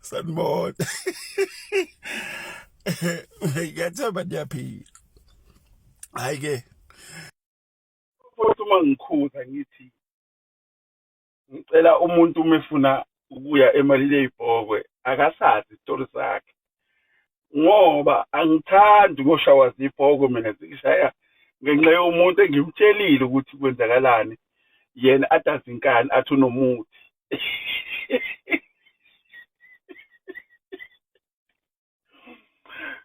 sanibona ngiyathemba niyaphila hhayi-ke futhi uma ngikhuza ngithi ngicela umuntu uma efuna ukuya emalini eyibhokwe akasazi isitori sakhe ngoba angithandi ngoshawa zibhokwe mina zingishaya ngenxa yomuntu engimtshelile ukuthi kwenzakalani yena adazi inkani athi unomuthi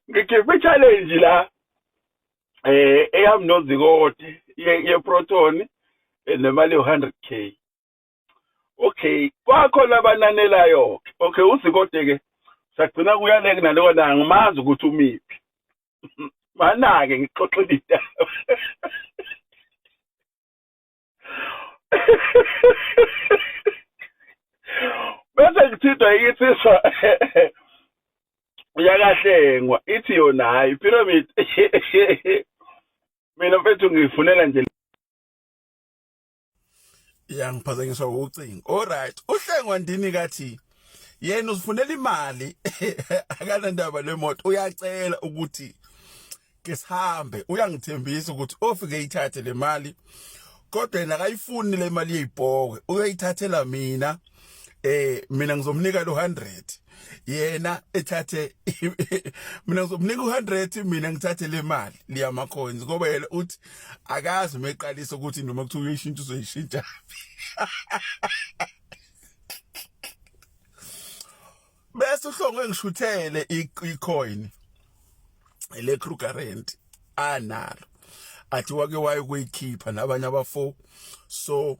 ngikhiphe challenge la eh eyam nozikoti ye proton eh, nemali 100k okay kwakhona abananelayo ke okay uzikode ke sagcina kuyaleke nalowo na ngimazi ukuthi umiphi manake ngixoxile idaba bese ngithintwa ikinsizwa uyakahlengwa ithi yona hayi pyramid mina mfethu ngifunela nje yangiphazanyiswa ucingo alright uhlengwa ndini kathi yena uzifunela imali akanandaba lemoto uyacela ukuthi ke sihambe uyangithembisa ukuthi ofike ithathe le mali kodwa yena akayifuni le mali yeyibhoke uyayithathela mina eh mina ngizomnika lo 100 yena ethathe mina ngizomnika u100 mina ngithathe le mali liya ma coins ngoba yena uthi akazi meqalisa ukuthi noma kuthiwa uyishintsha uzoyishintsha bese uhlongwe ngishuthele icoin le Kruger rent analo athi wake waye kuyikhipha nabanye abafo so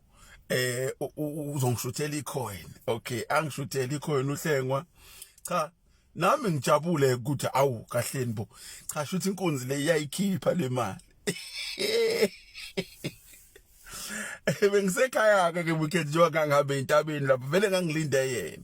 eh uzongishuthela icoin okay angishuthela icoin uhlengwa cha nami ngijabule ukuthi awu kahleni bo cha shuthi inkunzi le iyayikhipha le mali bengisekhaya ke ke weekend njengoba ngangabe entabeni lapho vele ngangilinde yena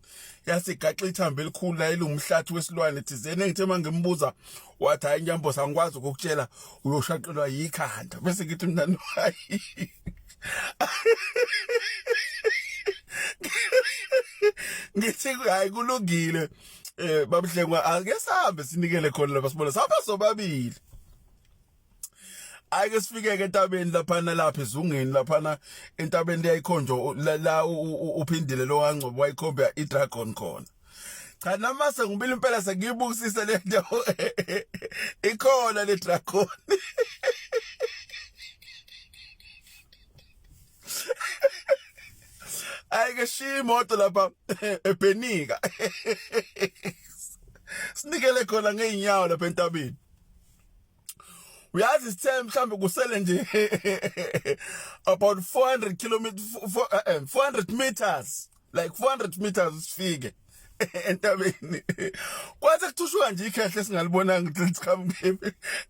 yase gaxa ithambo elikhulu la elingumhlathi wesilwane thizeni engithe uma ngimbuza wathi hayi nyambo sangikwazi ukukutshela uyoshaqelwa yikhanda bese ngithi mina no hayi ngithi hayi kulungile eh babuhlengwa ake sihambe sinikele khona lapha sibona saba sobabili ayike sifikeke entabeni laphana lapha ezungeni laphana entabeni leyayikhonjwa la uphindile lo wangcobo wayikhomba idragon khona cha nama sengibile impela sengiyibukisise le nto ikhona le dragon ayike shiya imoto lapha ebhenika sinikele khona ngeenyawo lapha entabeni uyazi sithe mhlambe kusele nje about 400 kilometers 400 meters like 400 meters sifike entabeni kwathi kuthushwa nje ikhehle singalibonanga ukuthi liqhamuke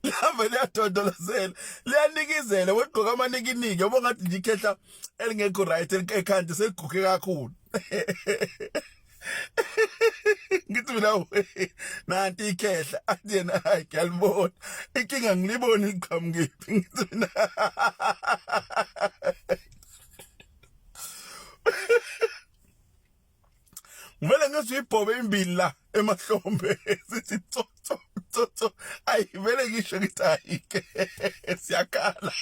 lihamba liyadondolozela liyanikizela wegqoka amanikiniki yabo ngathi nje ikhehla elingekho right ekhanda seliguge kakhulu ngithi mina nanti ikhehla athi yena hayi ngiyalibona inkinga ngilibona iqhamukephi ngithi mina ngivele ngizwe ibhobe imbili la emahlombe sithi tsotso tsotso ayi vele ngisho ngithi ayike siyakhala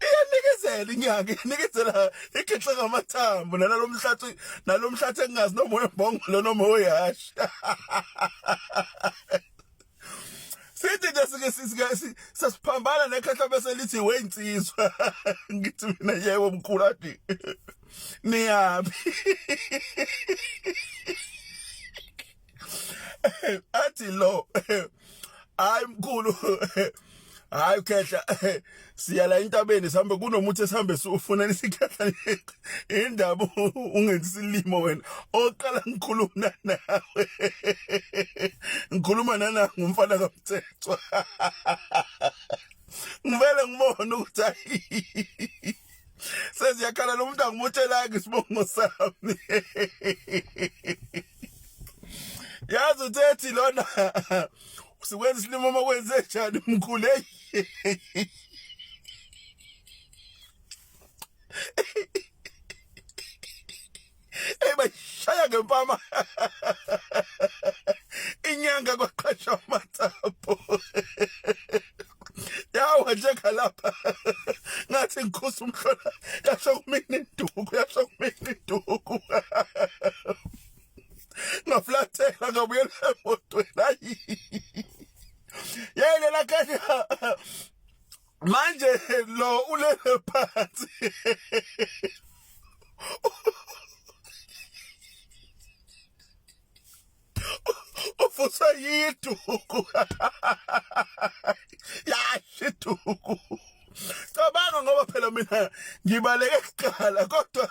iyanikezela inyanga iyanikezela ikhexe ngamathambo nalalo mhlathi nalo mhlathi engingazi noma wembongo lo noma oyashi sithi nje sike sisike sasiphambana nekhehla bese lithi weyinsizwa ngithi mina yebo mkhulu athi niyaphi athi lo hayi mkhulu hayi ukhehla siya la intabeni sihambe kunomuthi esihambe siwufuna isikhehla indaba ungenzi silimo wena oqala ngikhuluma nawe ngikhuluma nana ngumfana kamthethwa ngivele ngibone ukuthi seziyakhala lo muntu angimotshela-ke isibongo sami yazi uthethi lona sikwenza isilimo uma kwenze njani mkhulu eyi Hey bashaya ngempama. Inyanga kwaqhasha amathapo. Yawa njengalapha. Ngathi ngikhusa umhlola. Yasho kumina induku, yasho kumina induku. Ngaflathela ngabuyela emotweni. Ayi. Yayile la kahle. manje lo ulele phansi ufusa yiduku yasho iduku cabanga ngoba phela mina ngibaleke kuqala kodwa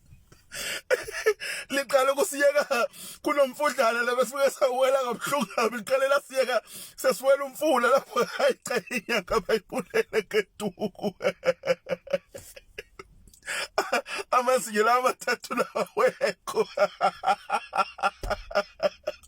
liqale kusiyeka kunomfudlana labefike sawela kabuhlungu kabi liqale lasiyeka sesiwela umfula lapho ayicela inyanga bayibulele ngeduku amazinyo lawa mathathu lawekho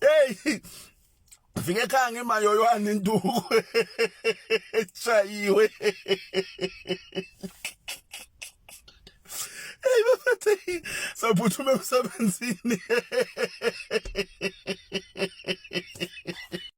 hey fika ekhaya ngemayoywane induku eshayiwe hey bafethe saphuthuma emsebenzini